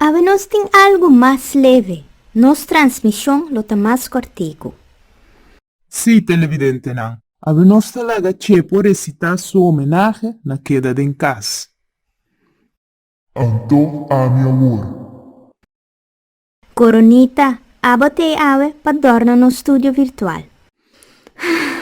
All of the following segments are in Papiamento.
Awe nos tin algu mas leve, nos transmishon lo ta mas kòrtiku. Sí, televidentenan. Awe nos ta laga Chepo resitá su homenahe na keda den kas. Anto ami awor. Coronita, abo t'e awe pa dòrna nos studio virtual. Hah.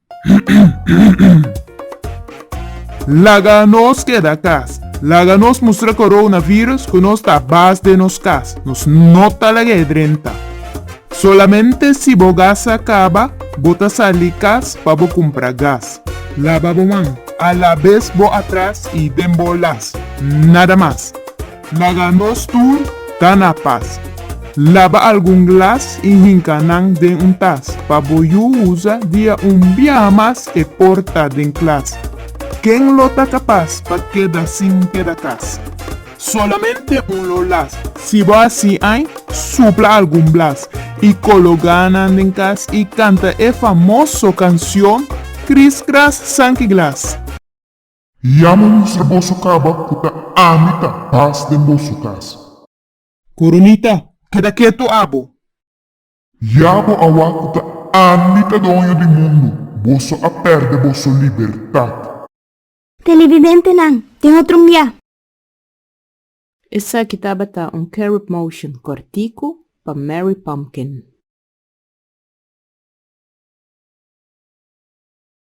Laga nos keda kas. Laga nos mustra coronavirus cu nos ta bas den nos kas. Nos no ta lag'é drenta. Solamente si bo gas a caba, bo ta sali kas pa bo cumpra gas. Laba bo man, alabes bo atras y den bo las. Nada mas. Laga nos tur ta na pas. Laba algun glas i hinka nan den un tas pa bo yu usa dia un biaha mas e porta den klas. Ken lo ta kapas pa keda sin keda kas? Solamente un lo las. Si bo hasi ai, supla algun blas i kologa nan den kas i kanta e famoso kansion Kriskras Sankiglas. Yama mi ser boso caba cu ta ami ta paz den boso casa. Coronita, keda ketu abo. Yabo awa cu ta ami ta doño di mundo, boso a perde boso libertad. Televidentenan, tin otro mbia. Esaki tabata un carib motion cortico pa Mary Pumpkin.